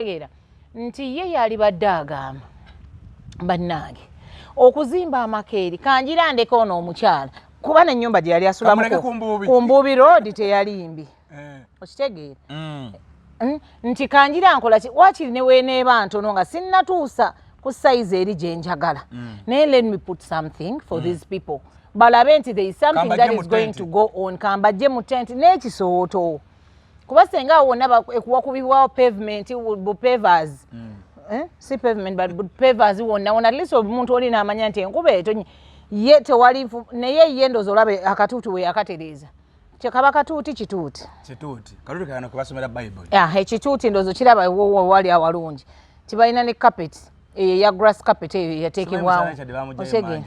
okutegeera nti ye yalibadde agamba bannange okuzimba amakeeri kanjira ndeka ono omukyala kuba nenyumba gye yali asulamu ku mbuubi road teyali mbi eh. okitegeera mm. hmm? nti kanjira nkola ki wakiri neweneeba ntono nga sinnatuusa ku sayizi eri gye njagala mm. naye let me put something for mm. these people balabe nti there is something that is going to go on kambajje mu tent n'ekisooto kuba senga awo wonna ekuwakubibwawo pavement bupavers mm. eh? si pavement but bupavers wonna wona atleast omuntu oli naamanya nti enkuba etonye ye tewali naye ye ndozi olaba akatuuti we yakatereeza kyekaba katuuti kituuti ekituuti ndozo kiraba wewali awalungi tibalina ne kapeti eyo eya grass carpet eyo yateekebwawo otege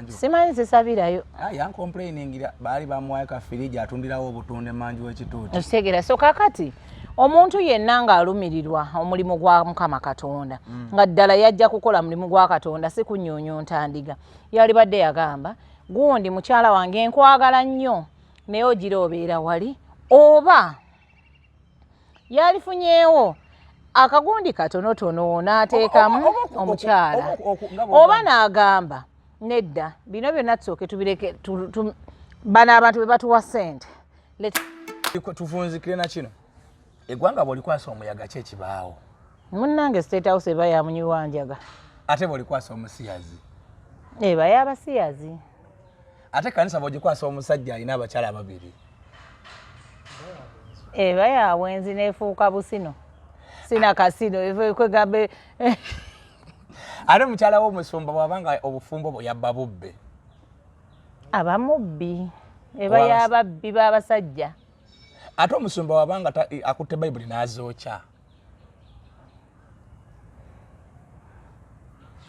simanyi zisabirayo ah, yankomplainingira baali bamuwayo ka firiji atundirawo obutunda emanju w'ekituuti okitegera so kakati omuntu yenna ng'alumirirwa omulimu gwa mukama katonda mm. nga ddala yajja kukola mulimu gwa katonda si kunyunyunta ndiga yalibadde yagamba gundi mukyala wange nkwagala nnyo naye ogira obeera wali oba yalifunyeewo akagundi katonotono n'ateekamu omukyala oba n'agamba nedda bino byonna tusooke tubireke bano abantu be batuwa ssente tuvunzikire na kino eggwanga bwolikwasa omuyaga ki ekibaawo munnange state house eba yamunyiwa njaga ate bwolikwasa omusiyazi eba yabasiyazi ate kanisa bwogikwasa omusajja alina abakyala babiri eba yabwenzi nefuuka busino sina kasino kwegambe ate mukyala wo omusumba bwabanga obufumbo bwe yabba bubbe abamubbi eba yababbi babasajja ate omusumba wabanga akutte bayibuli n'azookya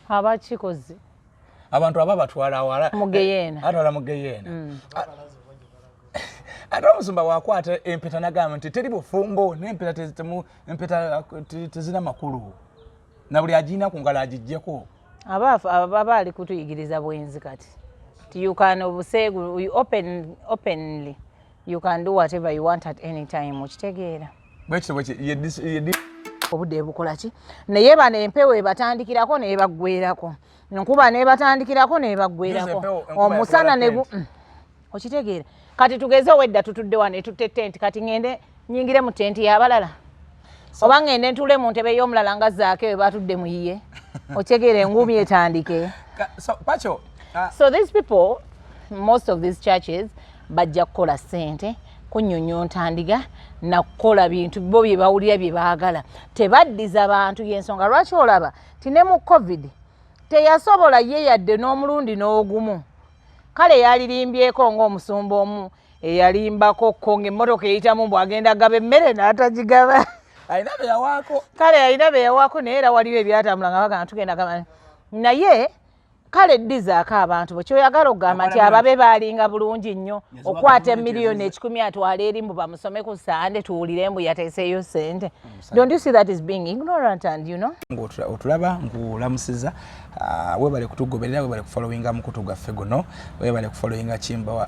abakikoze abantu aba batwala awala mugeyeena eh, atwala mugeyeena mm. ate omusumba wakwata empeta nagamba nti teri bufumbo nempeta tezina makulu na buli agirina ku ngalo agijjeko aba ali kutuyigiriza bwenzi kati tiukana obuseegu openly You can do whatever you want at any time. Okitegeera. Bwekyo bwekyo ye obudde bukola ki naye bano empewo ebatandikirako nebaggwerako nkuba nebatandikirako nebaggwerako omusana ne mm. okitegeera kati tugeze owedda tutudde wano etutte tenti kati ŋende nyingire mu tenti yabalala oba ngende ntule mu ntebe y'omulala nga zaake we batudde mu yiye okyegera enguumi etandike ah. so these people most of these churches bajja kukola sente kunyonyonta ndiga nakukola bintu bo bye bawulira bye baagala tebaddiza bantu y'ensonga lwaki olaba ti ne mu covid teyasobola ye yadde n'omulundi n'ogumu kale yalirimbyeko ng'omusumba omu eyalimbako ko ngaemmotoka eyitamu mbu agenda gaba emmere n'atagigaba alina beyawaako kale alina beyawaako naye era waliwo ebyatambula nga bagana tugenda gaba naye kale ddizaako abantu bwe kyoyagala okugamba nti ababe baalinga bulungi nnyo okwata emiliyoni ekikumi atwala eri mbu bamusome ku sande tuwulire mbu yateeseeyo sente otulaba ngulamusiza ah, webale kutugoberera webale kufolowinga mukutu gwaffe guno webale kufolowinga kimbawa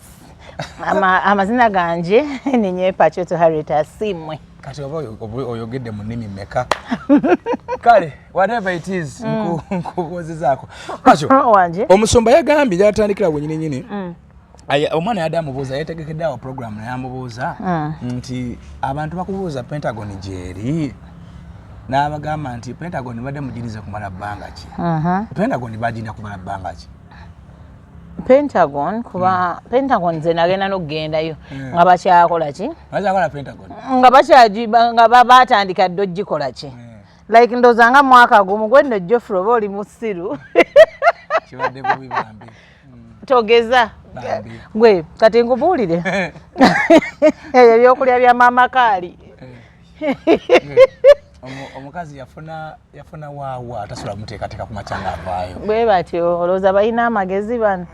amazina ganje ninye pacoto harriet asimwe kati oba oyogedde mu nnimi meka kale whatever it is mm. nkubuuzizaako paco omusumba yagambye gyatandikira wenyini nyini mm. omwana yadde amubuuza yetegekedde awo programu naye amubuuza mm. nti abantu bakubuuza pentagon gyeri n'abagamba nti pentagon badde mugirize kumala bbanga ki uh-huh. pentagon bagirina kumala bbanga ki pentagon kuba hmm. pentagon nze nagenda nokugendayo hmm. nga bakyakola ki nga bakyanga batandika dde ogikola ki hmm. like ndoza nga mwaka gumu gwendo jofre oba oli musiru togeza gwe kati nkubuulire ebyokulya bya maama kaali eh. omukazi yafuna yafuna waawa atasula muteekateeka ku makya ngaavaayo bwe batyo olowooza balina amagezi bano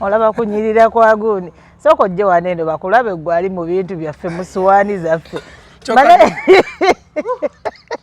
olaba kunyirira kwa gundi sooka ojje wano eno bakulabe gwali mu bintu byaffe mu suwaani zaffe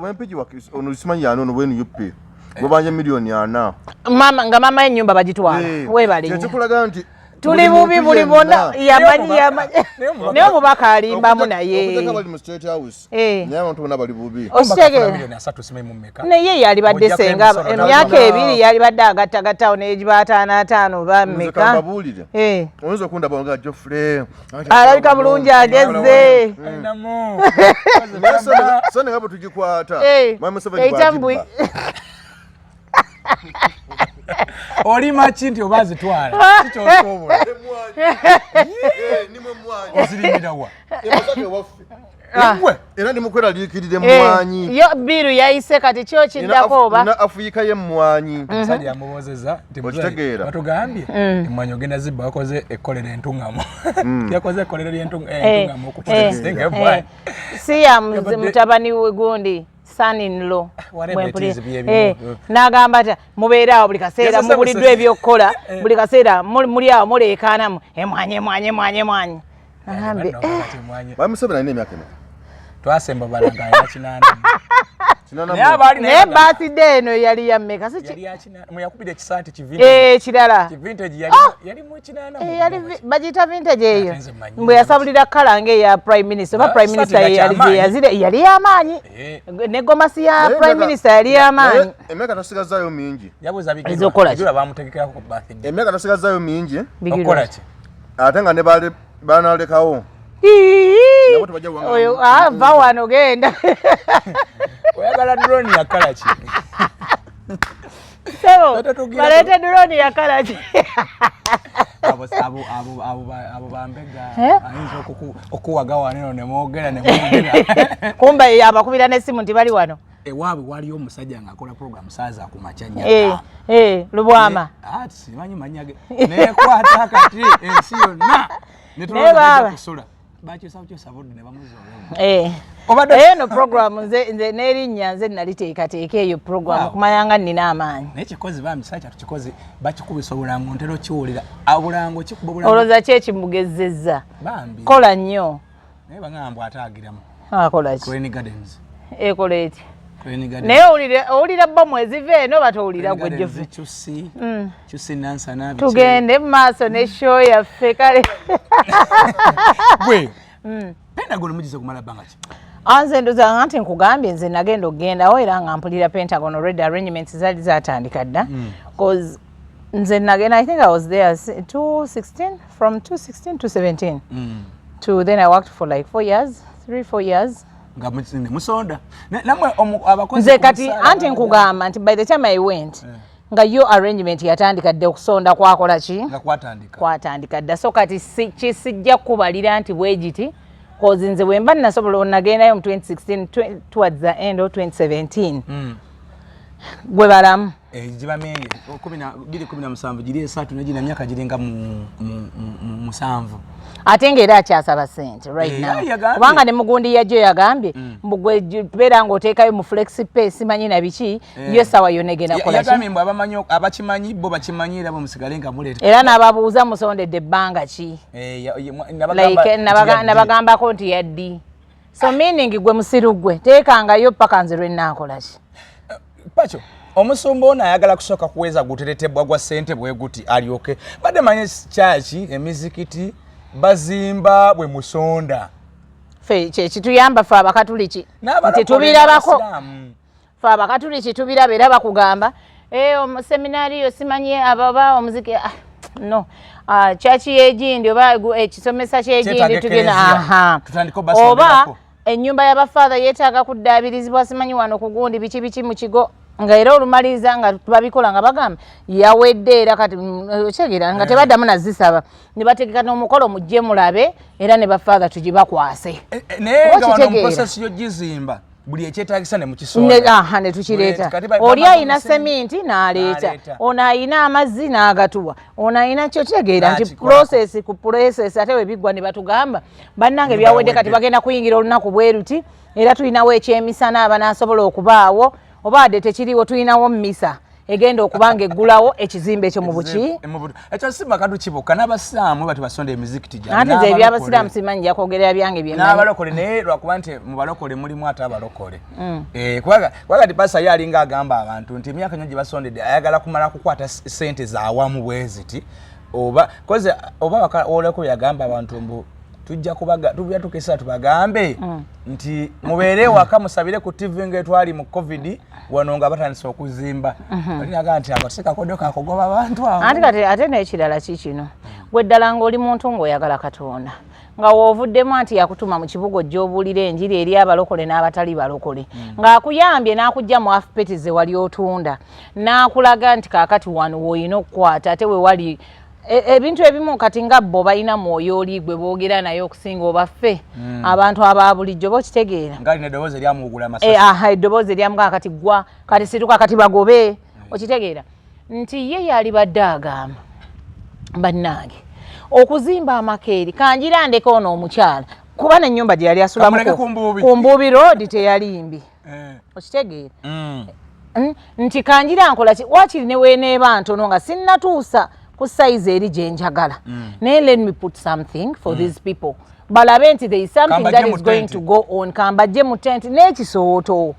wempiji ono simanyi yani ono wenu yup gwebanja miliyoni ana mama nga mama yenyumba bagitwala eh, webale kyekikulaga nti tuli bubi buli bona yamanyi yamanyi naye omubaka alimbamu naye naye yalibadde senga emyaka ebiri yalibadde agattagattawo negiba ataano ataano oba meka oyinza okundaba nga jofre alabika bulungi agezze sonenga bwe tugikwata ekyambui oli maki nti oba azitwala kikyosobola eh, eh, ozirimirawa Ah. era ndi mukweraliikirira emmwanyi eh, yo biiru yayise kati kyo kiddako oba na afuyika y'emmwanyi mhm. omusajja yamuwoozeza ntimutegeera batugambye mm. emmwanyi ogenda zibba wakoze ekkolero entuŋŋamu mm. yakoze ekkolero ly'entuŋŋamu eh, eh, okutulesingembwa si ya mutabani we gundi son in law eh, mm. nagamba ta mubeera awo buli kaseera mubuliddwa ebyokukola eh. buli kaseera muli awo muleekaanamu emwanyi eh, emwanyi emwanyi emwanyi nagambye bamusabira nina emyaka ena twasemba balagayakinaana naye baaside eno yali yammeka mweyakubira ekisaati kivekirala eh, kivintage yali ah! yali mu kinana eh, yali bajita vintage eyo mwe yasabulira kala nge ya prime minister ba ah, prime minister yali yazire yali ya manyi eh. ne goma si ya prime minister yali ya manyi emeka tosigaza yo mingi yabuza bigiro ezokola kyo bamutegekera ku birthday emeka tosigaza yo mingi okola kyo ate nga ne bali Bana lekawo. Oyo ah va wano genda. Oyagala drone ya kala ki? Sebo. Balete drone ya kala ki? Abo abo abo abo abo bambega. Eh? Ayinza okuku okuwaga wano ne mwogera ne mwogera. Kumba yabakubira ne simu ndi bali wano. ewaabwe waliyo omusajja ng'akola programu saaza ku makya nyaka eh, eh, lubwama eh, ah, simanyi manyage nekwata kati ensi yonna netulaakusula bakyusakukyusa budde ne bamuzoolaeno programu n'erinnya nze naliteekateeka eyo programu kumanya nga nnina amaanyi naye kikozi bambi saa kyatu kikozi bakikubisa obulango ntera okiwulira obulango kikuba obulango olowooza ki ekimugezezza bambi kola nnyo naye bangamba mbu ate agiramu akola ki Rainy Gardens ekola eti Rainy Gardens naye owulira owulira bba mwezi ve eno bata owulira gwe Jovi chusi mm. chusi nansa nabi tugende maaso ne show yaffe kale gwe mm. Pentagon mujize kumala banga ki anze ndoza ngante nkugambye nze nagenda okugenda o era nga mpulira Pentagon already arrangements zali zatandika dda mm. cause nze nagenda i think i was there 216 from 2016 to 17 mm. to then i worked for like four years three four years nga musonda namwe abakozi nze kati anti nkugamba nti by the time i went yeah. nga yo arrangement yatandika dde okusonda kwakola ki kwatandika dda so kati kisijja kukubalira nti bwegiti kozi nze bwemba nasobola onagendayo mu 2016 towards the end of 2017 mm. gwe balamu Eh, gibameye biri kumi na musanvu giri esatu negina myaka giringa musanvu ate nga era akyasaba sente rightnowkubanga eh, ne mugundi yajjo yagambye mm. mbugwebeera nga oteekayo mu flexipay simanyi na biki eh. yo esawa yona egenda kolagambe mbu abakimanyi bo bakimanyi era bamusigale nga muleeta era nababuuza musondedde ebbanga ki nabagambako nti yaddi so meaning gwe musiru gwe teekangayo paka nze lwenaakolaki pacho omusumba ono ayagala kusooka kuweza guteretebwa gwa sente bweguti alyoke badde manye kyaki emizikiti bazimba bwe musonda fe kyekituyamba fe abakatuliki nti tubirabako fe abakatuliki tubiraba era bakugamba eh, omuseminario simanyi ababa omuziki ah, no ah, kyaki yegindi oba ekisomesa kyegindi tugena oba Ennyumba ya bafaadha yeetaaga kuddaabirizibwa simanyi wano ku gundi biki biki mu kigo nga era olumaliriza nga babikola nga bagamba yawedde era kati mm, eh, okyegera nga eh. tebaddamu nazisaba ne bategeka n'omukolo mujje mulabe era ne bafaadha tugibakwase eh, naye nga wano muprosesi yogizimba buli ekyetagisa ne mukisondaha ne tukireeta oli ayina seminti n'aleeta ono ayina amazzi n'agatuwa ono ayina kyo kitegeera nti prosesi ku prosesi ate webiggwa ne batugamba bannange byawedde kati bagenda kuyingira olunaku bweruti era tulinawo ekyemisana abanaasobola okubaawo oba wadde tekiriwo tulinawo mumisa egenda okubanga eggulawo ekizimbe ekyo mu buki ekyo si makadu kibuka n'abasiraamu bati basonda emizikiti gyante nze ebyabasiraamu simanyi njakwogera byange byenabalokole naye lwakuba nti mu balokole mulimu ate abalokole mm. eh, kubanga ti pasa ye alinga agamba abantu nti emyaka nyo gye basondedde ayagala kumala kukwata sente zawamu bweziti oba koze oba wakaolako yagamba abantu mbu tujja kubaga tujja tukesa tubagambe mm. nti mubeere waka musabire ku TV nga etwali mu covid wano nga batandise okuzimba mm-hmm. ali naga nti akasika kodo kakogoba abantu awo ati kati ate n'ekirala ki kino gwe ddala ng'oli muntu ng'oyagala katonda nga wovuddemu anti yakutuma mu kibuga ojja obuulira enjiri eri abalokole n'abatali balokole mm. ng'akuyambye n'akujja mu afupeti ze wali otunda n'akulaga nti kaakati wano woolina okukwata ate we wali E, ebintu ebimu kati nga bo balina mwoyo oli gwe boogera naye okusinga obaffe hmm. abantu aba bulijjo bokitegeera e, eddoboozi eryamugaa kati gwa kati situka kati bagobe hmm. okitegeera nti ye yali badde agamba bannange okuzimba amakeeri kanjira ndeka ono omukyala kuba nenyumba gyeyali asulamu ku mbuubi road teyali mbi mm. okitegeera mm. mm, nti kanjira nkola ki wakiri ne weneeba ntono nga sinnatuusa ku sayizi eri gye njagala mm. naye let me put something for mm. these people balabe nti there is something Kamba that is going to go on kambajje mu tenti n'ekisooto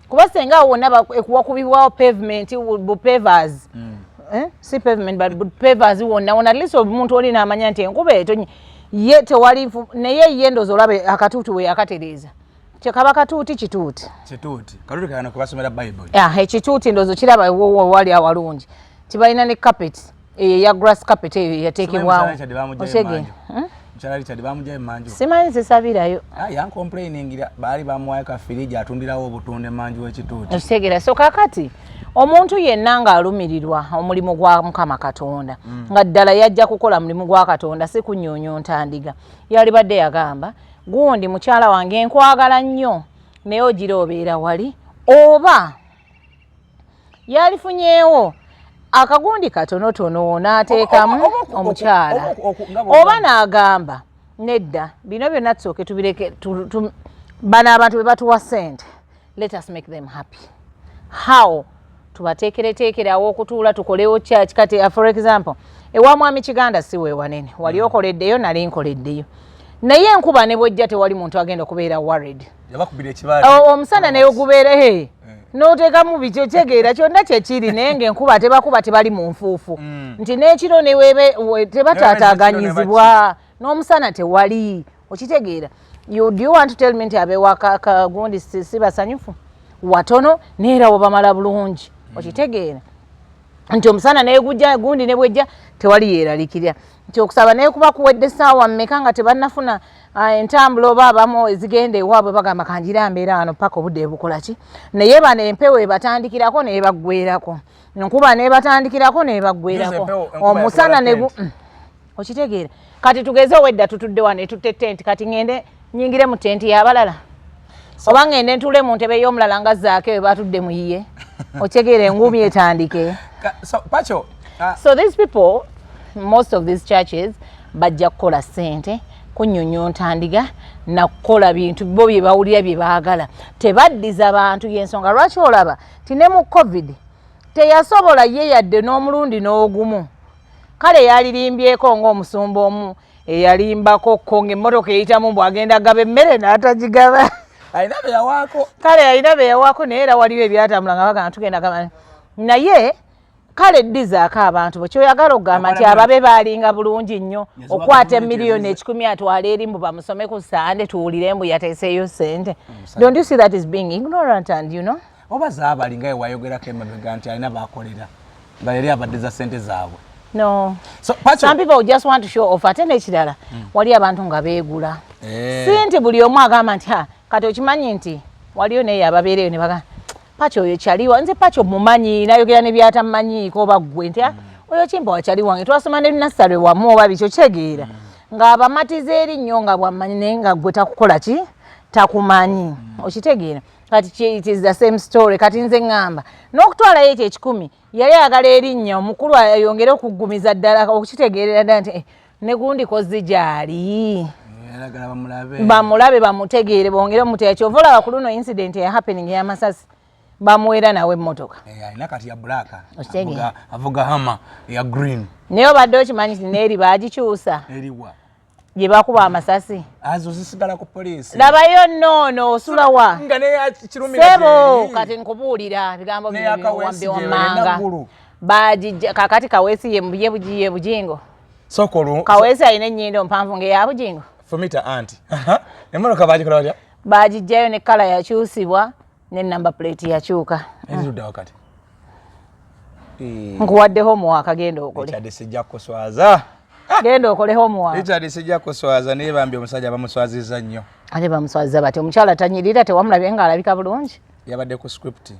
kuba senga awo wonna ekuwakubibwawo pavement bupavers mm. eh? si pavement but bupavers wonna wona atleast omuntu oli naamanya nti enkuba etonye ye tewali naye ye ndozi olaba akatuutu we yakatereeza kyekaba katuuti kituuti kituuti katuuti kagana kubasomera bible yeah, ekituuti ndozo kiraba wali awalungi tibalina ne carpet eyo ya grass carpet eyo yateekebwawo otegee mukyala richard bamujayo manju simanyi zisabirayo ah, yankomplainingira baali bamuwayo ka firiji atundirawo obutunde manju wekituuti okitegera so kakati omuntu yenna ng'alumirirwa omulimu gwa mukama katonda mm. nga ddala yajja kukola mulimu gwa katonda si kunyonyo ntandiga yalibadde yagamba gundi mukyala wange nkwagala nnyo naye ogira obeera wali oba yalifunyeewo akagundi katonotono n'ateekamu omukyala oba n'agamba nedda bino byonna tusooke tubireke bano abantu bwe batuwa ssente let us make them happy how tubateekereteekere awo okutuula tukolewo church kati uh, for example ewa mwami kiganda si wewanene wali mm. okoleddeyo nali nkoleddeyo naye enkuba ne bwejja tewali muntu agenda okubeera worried omusana naye ogubeera he eh. noteekamu biki okyegeera kyonna kyekiri naye nga enkuba tebakuba tebali mu nfuufu mm. nti n'ekiro neweebe tebataataaganyizibwa n'omusana tewali okitegeera you do you want to tell me nti abewaka kagundi si basanyufu watono neera wabamala bulungi mm. okitegeera nti omusana negujja gundi nebwejja tewali yeeralikirira nti okusaba naye kuba kuwedde saawa mmeka nga tebanafuna ah, entambula oba abamu ezigenda ewaabwe bagamba kanjira mbeera wano paka obudde bukolaki naye bano empewo ebatandikirako nebaggwerako nkuba nebatandikirako nebaggwerako omusana negu okitegeera kati tugeze owedda tutudde wano etutte tenti kati ŋende nyingire mu tenti yabalala oba ŋende ntule mu ntebe y'omulala nga zaake we batudde mu yiye okitegeera enguumi etandike uh, so these people most of these churches bajja kukola sente kunyunyunta ndiga nakukola bintu bo bye bawulira bye baagala tebaddiza bantu yensonga lwaki olaba ti ne mu covid teyasobola ye yadde n'omulundi n'ogumu kale yalirimbyeko ng'omusumba omu eyalimbako kko ng'emmotoka eyitamu mbu agenda gaba emmere n'atagigaba alina beyawaako kale alina beyawaako naye era waliwo ebyatambula nga bagana tugenda gaba naye kale ddizaako abantu bwe kyoyagala okugamba nti ababe baalinga bulungi nnyo okwata emiliyoni ekikumi atwala eri mbu bamusome ku sande tuwulire mbu yateeseeyo ssente mm, don't you see that is being ignorant and you know oba zaabali nga yewayogerako emabega nti alina bakolera nga yali abadde za sente zaabwe no so, some people just want to show off ate nekirala mm. wali abantu nga beegula eh. si nti buli omu agamba nti kati okimanyi nti waliyo naye ababeereyo ne bagamba paci oyo kyaliwa nze paci omumanyi nayogera ne byatamanyiiko oba ggwe nti ah, mm. oyo kimpa wakyali wange twasoma ne nasale wamu oba bikyo kyegeera mm. ng'abamatiza eri nnyo nga bwamanyi naye nga ggwe takukola ki takumanyi mm. okitegeera kati it is the same story kati nze ngamba nokutwala yete ekikumi yali agala erinnya omukulu ayongere okuggumiza ddala okukitegeerera ddala nti eh, negundi kozi gyali bamulabe bamutegeere bongere omuteya kyova olaba ku luno incident ya happening yamasasi bamuwera nawe emotoka eh, alina kati ya black avuga hama ya green naye obadde okimanyi ti neeri bagikyusa eriwa gye bakuba amasasi azo zisigala ku poliisi labayo noono osula wa sebo kati nkubuulira bigambo biwambi wammanga bagijja kakati kaweesi ye bugiye bujingo kaweesi alina ennyindo mpanvu ngaeya bujingo fumita anti emmotoka bagikola batya bagijjayo ne kala yakyusibwa ne number plate yakyuka eziruda wakati eh. nkuwadde homework agenda okole ekyadde sijja kuswaza ah! genda okole homework ekyadde sijja kuswaza naye bambi omusajja bamuswaziza nnyo ate bamuswaziza bati omukyala tanyirira tewamulabye nga alabika bulungi yabadde ku script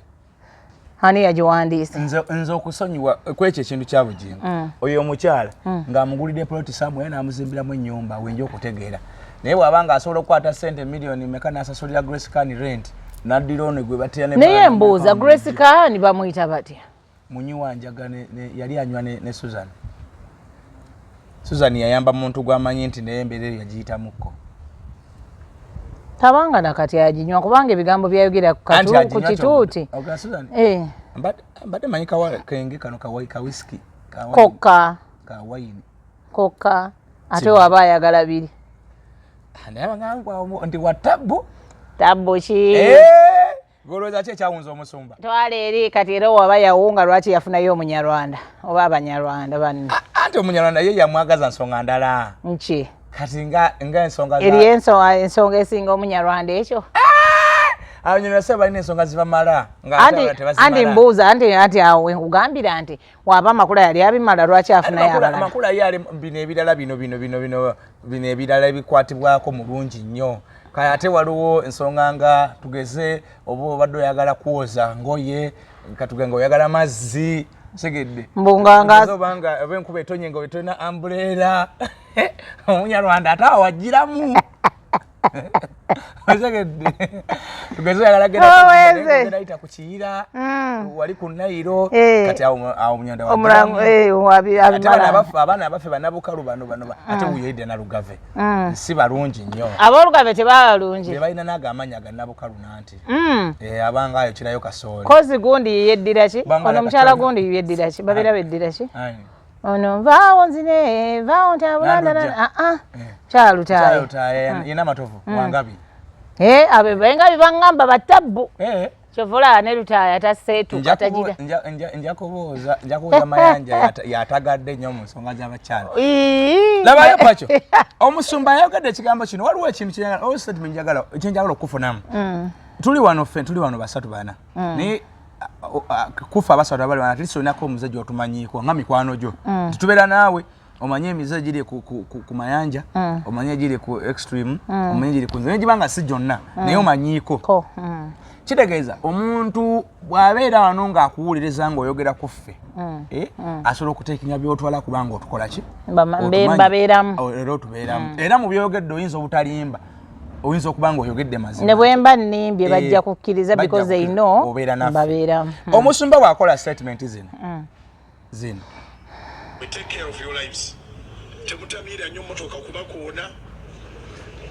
ani yagiwandiise nze okusonyiwa kwekyo ekintu kya bugingo mm. oyo omukyala mm. ng'amugulidde poloti samwe n'amuzimbiramu ennyumba wenja okutegeera naye bw'aba nga asobola okukwata sente miliyoni meka n'asasulira grace can rent n'addira ono gwe batera naye mbuuza grace can bamuyita batya munyi wanjaga yali anywa ne susan susan yayamba muntu gwamanyi nti naye embeera eyo yagiyitamuko tabanga nakati aginywa kubanga ebigambo byayogera ku kituuti eh. mbadde manyi kawakenge kano kawiski kokka kawayini kokka ate waba ayagala biri ah, naye abagambwa nti wa tabbu tabbu ki eh. Golowooza ki ekyawunza omusumba? Twala eri kati era waba yawunga lwaki yafunayo omunyarwanda oba abanyarwanda banne. Anti omunyarwanda ye yamwagaza nsonga ndala. Nki? Kati nga nga ensonga za. Eri ensonga ensonga esinga omunyarwanda ekyo. Ah! Abanyarwanda sebo balina ensonga zibamala nga ate tebasimala. Anti mbuuza anti anti awo nkugambira nti waba amakula yali abimala lwaki afunayoamakula ye ali bino ebirala bino bino bino bino bino ebirala ebikwatibwako mu lungi nnyo kale ate waliwo ensonga nga tugeze oba obadde oyagala kwoza ngoye katugenga oyagala mazzi segedde mbungangaobanga oba enkuba etonye nga obetolina ambuleera omunyarwanda ate awagiramu owezeayita ku kiyira mm. wali ku nayiro eh. kati awo munyanda wabaffe eh, abaana abaffe banabukalu bano bano mm. ate wuyoyidde nalugave mm. si balungi nnyo abolugave tebaba balungi bebalina naga amaanyi aganabukalu nanti eh, abanga ayo kirayo kasooli kozi gundi yeddira ki ono omukyala gundi yeddira ki babeera beddira ki ono nvaawo nzine vaawo ntabulanaa kyalutayena amatovu wangabi abo engabi bangamba batabbu kyovola ne lutaaya taseetuka tagira nja kubuuza nja kubuuza mayanja yatagadde nnyo mu nsonga z'abakyala labayo pakyo omusumba ayogedde ekigambo kino waliwo ekintu kyenjagala okukufunamu mm. tuli wano ffe tuli wano basatu bana mm. naye kufa abasatu abali bana atleast olinako omuzajja otumanyiiko nga mikwano gyo mm. titubeera naawe omanye emize giri ku mayanja mm. omanye giri ku extreme mm. omanye giri ku nzira gibanga si gyonna mm. naye omanyiiko kitegeeza omuntu bw'abeera wano ng'akuwuliriza ng'oyogera ku ffe eh, asobola okuteekenya byotwala kubanga otukola ki era otubeeramu oh, era mu byogedde oyinza obutalimba oyinza okuba nga oyogedde mazima ne bwemba nimbye eh, bajja kukkiriza because they know obeera nafe mbabeera hmm. omusumba wakola statement zino hmm. zino we take care of your lives temutamiira nnyo motoka kuba koona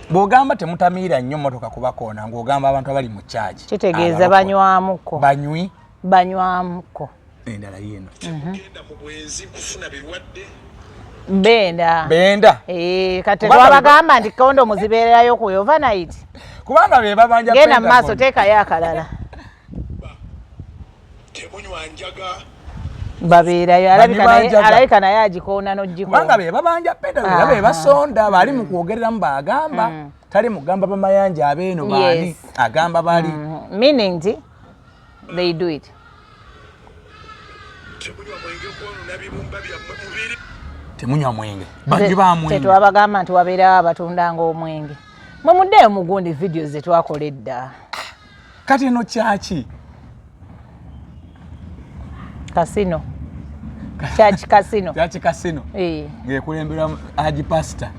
bw'ogamba temutamiira nnyo motoka kuba koona ng'ogamba abantu abali mu kyagi kitegeeza banywamuko banywi banywamko endala yeno mhm. benda benda eh, kati wabagamba nti kondo muzibeererayo ku overnight kubanga be babanja genda mu maaso teekayo akalala babeerayo alabika naye agikoona nogikubanga be babanja penda era be basonda bali mu kwogereramu bagamba mm. tali mugamba bamayanja abeeno baani agamba bali mm. meaning nti they do it temunywa mwenge bangi bamwenge tetwabagamba nti wabeerawo abatundanga omwenge mwe muddeeyo mugundi vidiyo zetwakola edda kati eno kyaki kasino kyaki kasino kyaki kasino eh. ngekulemberwa haji pasita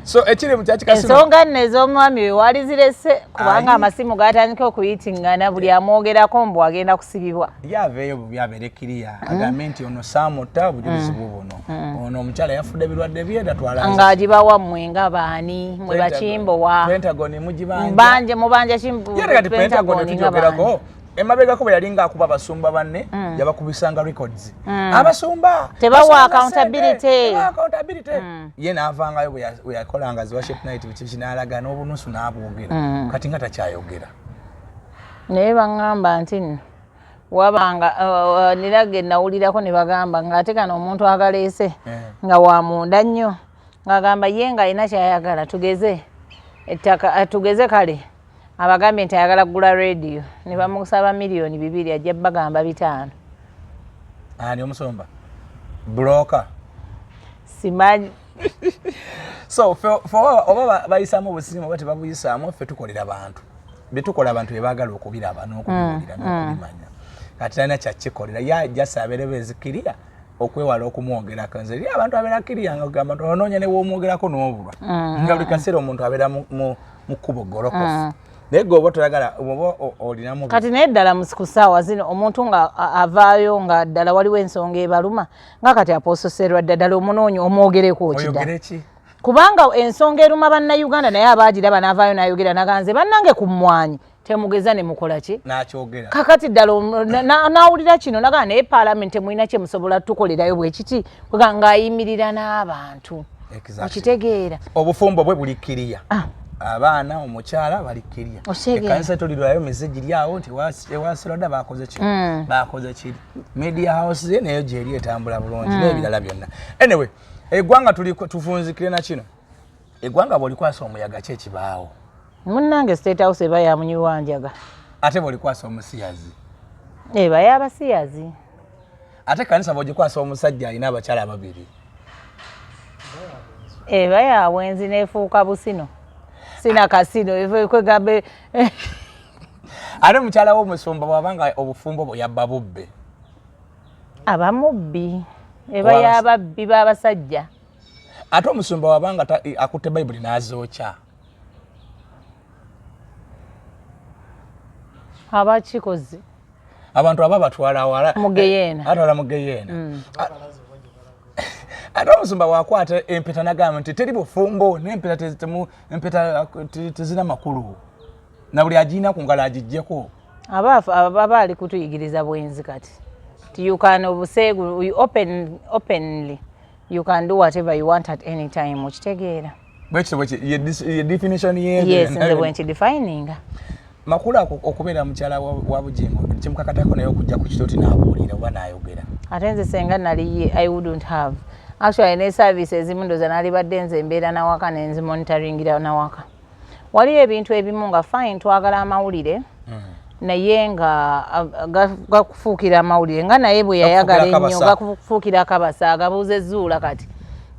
so ekiri mu kyaki kasino ensonga nno ez'omwami we wali zirese kubanga amasimu gatandika okuyitingana buli amwogerako mbu agenda kusibibwa yaveeyo bubi abeere kiriya agambe nti ono saamuta bujulizi mm. bubuno Hmm. ono omukyala yafudde birwadde bye tatwalangaagibawa mmwe nga baani mwe bakimbowa pentagon mugibanje mubanja kiati pentagon tujogerako emabegako bwe yalinga akuba abasumba banne hmm. yabakubisanga records hmm. abasumba tebawa accountability ye naavangayo bwe yakolanga ziwaship night bikiki naalaga n'obunusu n'abwogera kati nga takyayogera naye baŋŋamba nti nno wabanga nira ge nawulirako ne bagamba ng'ate kano omuntu akaleese eh. nga wa munda nnyo ng'agamba ye ng'alina kyayagala tugeze ettaka eh, tugeze kale abagambye nti ayagala kugula rediyo ne bamusaba miliyoni bibiri ajja bagamba bitaano ani omusomba buloka simanyi so fe oba bayisamu obusimu oba tebabuyisamu fe tukolera bantu byetukola abantu bebagala okubiraba nokubiwulira mm, mm. nokubimanya kati talina kyakikolera ye ajasa abeereba ezikiriya okwewala okumwogerako nze eri abantu abeera kiriya nga ogamba nti onoonya newomwogerako n'obulwa mm, nga buli kaseera omuntu abeera mu kkubo golokofu naye gwe oba toyagala oba olinamu kati naye ddala ku ssaawa zino omuntu nga avaayo nga ddala waliwo ensonga ebaluma nga kati aposo serwadda ddala omunoonya omwogereko okida kubanga ensonga eruma bannayuganda naye abaagiraba n'avaayo n'ayogera naganze bannange ku mmwanyi temugeza ne mukola ki nakyogera kakati ddala n'awulira kino nagaa naye paalamenti emulina kye musobola tukolerayo bwe kiti nga ayimirira n'abantu okitegeera obufumbo bwe buli kiriya ah. abaana omukyala bali kiriya ekanisa etolirwayo mize giri awo nti ewaserwadda bakoze kino hmm. bakoze kiri media house ze nayo gyeri etambula bulungi mm. n'ebirala byonna anyway eggwanga tufunzikire na kino eggwanga bw'olikwasa omuyaga ki ekibaawo munnange state house eba yamunyirwa njaga ate bw'olikwasa omusiyazi eba y'abasiyazi ate kanisa bw'ogikwasa omusajja alina abakyala ababiri eba ya bwenzi n'efuuka busino sina kasino ekwegamba ate mukyala wo omusumba bwaba nga obufumbo bwe yabba bubbe aba mubbi eba yababbi babasajja ate omusumba waba nga akutte bayibuli n'azookya aba kikozi abantu aba batwala wala mugeyeena eh, atwala mugeyeena mm. ate omusumba wakwata empeta nagamba nti teri bufumbo nempeta tezina makulu na buli agirina ku ngalo agiggyeko aba ali kutuyigiriza bwenzi kati ti you can obuseegu you open, openly you can do whatever you want at any time okitegeera bwekitobwekiyedefinitionyenze bwenkidefininga makulu okubeera mukyala wa bujingo kimukakatako naye okujja ku kitooti nabuulira oba nayogera ate nze senga naliye i wouldn't have actually ne service ezimu ndoza nalibadde nze embeera nawaka nenzimonitaringira nawaka waliyo ebintu ebimu nga fine twagala amawulire mm. naye nga gakufuukira amawulire nga naye bwe yayagala ennyo gakufuukira akabasa agabuuza ezuula kati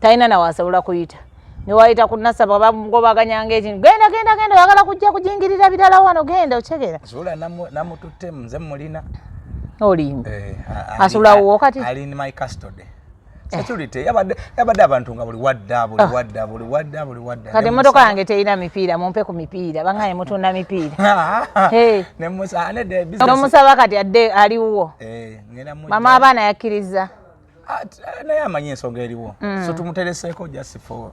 talina nawe asobola kuyita newayita ku nasaba bagobaganyanga ekintu genda genda genda oyagala kujja kujingirira birala wano genda okyegera zuula namututte nze mulina olimba eh, asobola wo kati Eh. security yabadde yabadde abantu nga buli wadda buli ah. wadda buli wadda buli wadda kati emmotoka yange terina mipiira mumpe ku mipiira bangaye mutunda mipiira ah. nomusaba kati adde aliwo eh, mama abaana yakkirizza ah, eh, naye amanyi ensonga eriwo mm. so tumutereseeko just for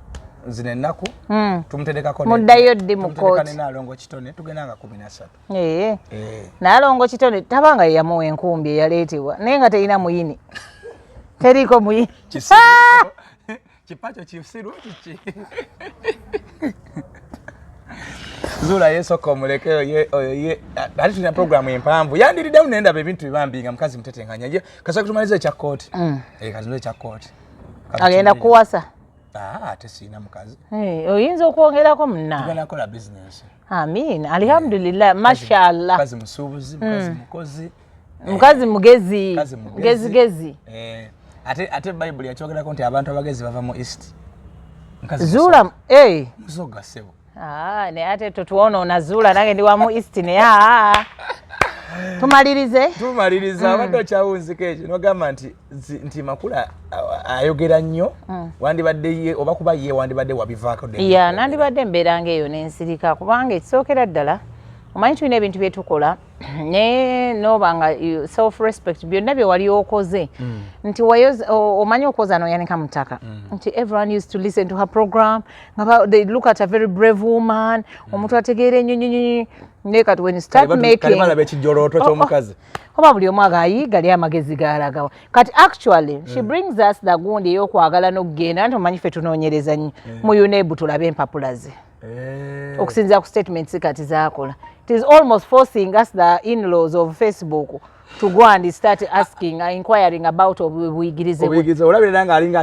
zino ennaku mm. tumuterekako muddayo ddi mu kooti nalongo kitone tugenda nga kumi nasatu Eh. nalongo kitone taba nga yeyamuwa enkumbi eyaleetebwa naye nga terina muyini teriiko muyini kipakyo kisiru kiki zuula yesoka omuleke oyo ye ate tulina programu empanvu yandiriddemu nendaba ebintu bibambi nga mukazi mutetenkanya ye kasoka tumaliza ekya kooti mm. eh, kati ekya kooti agenda kuwasa ah, ate siina mukazi eh, oyinza okwongerako munna tugenda kola bizinesi Amin, alihamdulillah, mashallah. Kazi musubuzi, mukazi mm. mukozi. Mukazi eh, mugezi, mugezi gezi. Eh, ate ate Bible yachogera konti abantu abagezi bava mu east. Mukazi Zula, eh. Musoga sebo. Ah, ne ate totuona na Zula nange ndi wa mu east ne ya. Ah, ah, ah. Tumalirize. Tumalirize, mm. abadde okyawunzika ekyo, nogamba nti nti makula ayogera nnyo mm. wandibadde ye oba kuba ye wandibadde wabivaako ya nandibadde mbeera nga eyo nensirika kubanga ekisookera ddala omanyi tulina ebintu bye tukola naye noba nga self respect byonna bye wali okoze mm. nti omanyi okwoza noyanika mu ttaka mm. nti everyone used to listen to her program nga they look at a very brave woman mm. omuntu ategeera enyonyonyi naye kati when you start making oh, oh. oba buli omu agayi gali amagezi galagawa kati actually she mm. brings us the gundi eyokwagala nokugenda nti omanyi fe tunonyereza nyo mm. mu unebu tulabe empapula ze mm. okusinzira ku statements kati zakola it is almost forcing us the inlaws of facebook to go and start asking uh, inquiring about obuyigirize obuyigirize olabirira nga alinga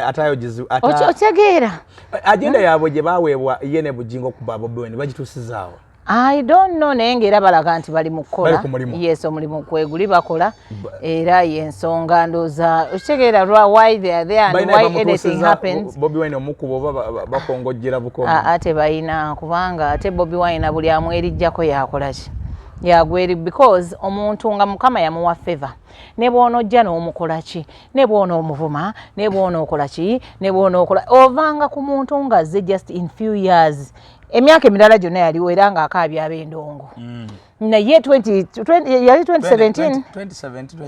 atayogizi ata okitegeera agenda mm. yabwe gye baweebwa ye ne bujingo okuba bobi wene bagituusizaawo I don't know naye ng'era balaga nti bali mu kukola yes omulimu kweguli bakola era yensonga ndooza okitegeera lwa why they are there and why anything happens bobi wine omukuba oba bakongojjera bukomi ah, ah, tebalina kubanga ate bobi wine buli amwerijjako yakolaki yagweri because omuntu nga mukama yamuwa favor ne bwonojja n'omukolaki ne bwona omuvuma ne bwona okolaki ne bwona okola ovanga ku muntu ng'azze just in few years emyaka emirala gyonna yaliwo era nga akaabya ab'endongo mm. naye yali 2017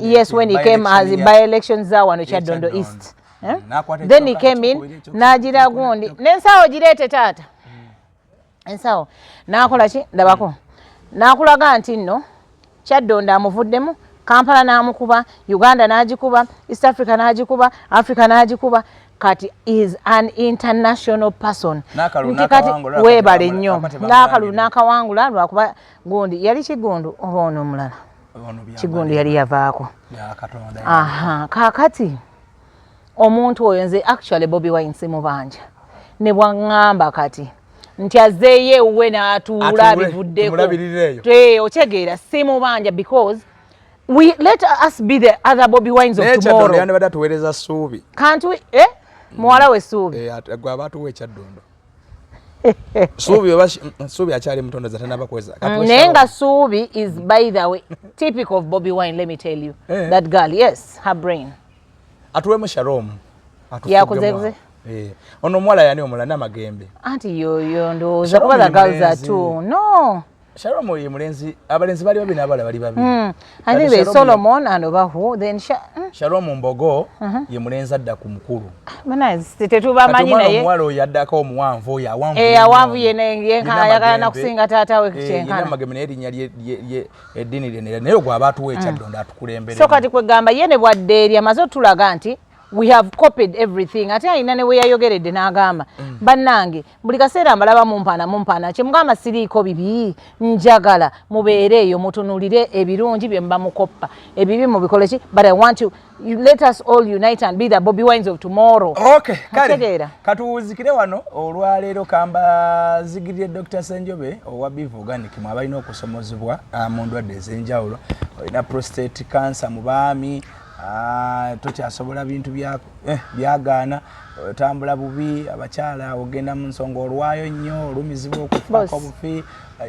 yes when he came as by election za wano kyaddondo east eh? mm. then he came in n'agira gundi n'ensawo gireete taata mm. ensawo n'akola ki ndabako n'akulaga nti nno Kyaddondo amuvuddemu Kampala n'amukuba Uganda n'agikuba East Africa n'agikuba Africa n'agikuba kati is an international person nti kati weebale nnyo n'akalulu n'akawangula lwakuba gundi yali kigundu oba ono omulala kigundu yali yavaako kaakati omuntu oyo nze actually bobi wine simubanja ne bwaŋŋamba kati nti azzeeyo ewuwe n'atuula abivuddeko okyegeera simubanja because we let us be the other bobi wines of tomorrowyanibadde atuweereza suubi kantu eh? muwala we suubi eh, gwe aba atuwa ekyaddondo suubi oba suubi akyali mutondo zatanaba kweza mm, naye nga suubi is by the way typical of bobi wine let me tell you eh. that girl yes her brain atuwemu sharom yakuze eh, ono omuwala yani omula namagembe anti yoyo ndowooza kuba the girls are two no sharom oyo mulenzi abalenzi bali babi nabala bali babi mm. i think they solomon and obahu then sha mm. sharom mbogo uh -huh. ye mulenzi adda ku mukulu bana tetubamanyi naye omuwala oyo addako omuwanvu oyo awanvu eh awanvu yene yenkana yakana nakusinga taata we eh, kyenkana eh, namagembe naye linya lye eddini lyenera naye ogwo aba atuwa ekyaddondo mm. atukulembere so kati kwegamba ye ne bwaddeeri amaze otulaga nti we have copied everything ate alina ne weyayogeredde n'agamba mm. bannange buli kaseera mbalaba mumpaana mumpaana kyemugamba siriiko bibi njagala mubeere eyo mutunulire ebirungi bye muba mukoppa ebibi mubikoleki but i want you let us all unite and be the Bobby Wines of tomorrow. Okay, kale. Katuwuzikire wano olwaleero kamba zigirire Dr. Senjobe owa Biv Organic mwabalina okusomozebwa ah, mu ndwadde ez'enjawulo. Olina prostate cancer mu baami, ah, tokyasobola bintu bya eh, byagaana otambula bubi abakyala ogenda mu nsonga olwayo nnyo olumizibwa okufako obufi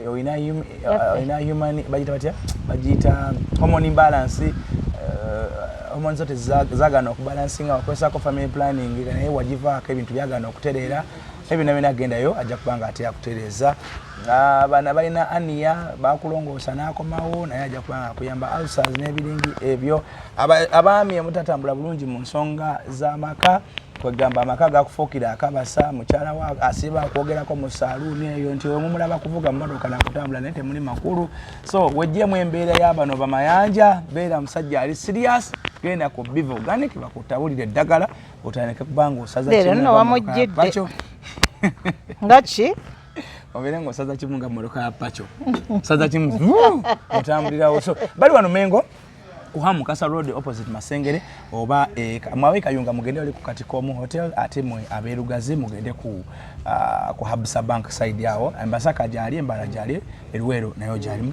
olina uh, human bagiyita batya bagiyita hormone imbalance uh, hormone zote zagana okubalansinga wakozesako family planning naye wagivaako ebintu byagana okutereera ebyo nabyona agendayo ajja kuba nga ate yakutereeza uh, bana balina aniya bakulongoosa n'akomawo naye ajja kuba nga akuyamba ulcers n'ebiringi ebyo abaami omutatambula bulungi mu nsonga z'amaka kwegamba amaka gakufuukira akabasa mukyala wa asiba akwogerako mu saluuni eyo nti wemumulaba kuvuga mumotoka nakutambula naye temuli makulu so wejjemu embeera yabano bamayanja beera musajja ali sirias genda ku biva oganiki bakutabulira eddagala otandike kubanga osazawamujjiddeakyo nga ki obeere nga osaza kimu nga motoka ya paco osaza kimu otambulirawo so bali wano mengo kuha mukasa road opposite masengere oba e, mwawe kayunga mugende wali kukati komu hotel ate mwe aberugazi mugende ku uh, ku habsa bank side yawo embasaka jali embara jali eruwero nayo jali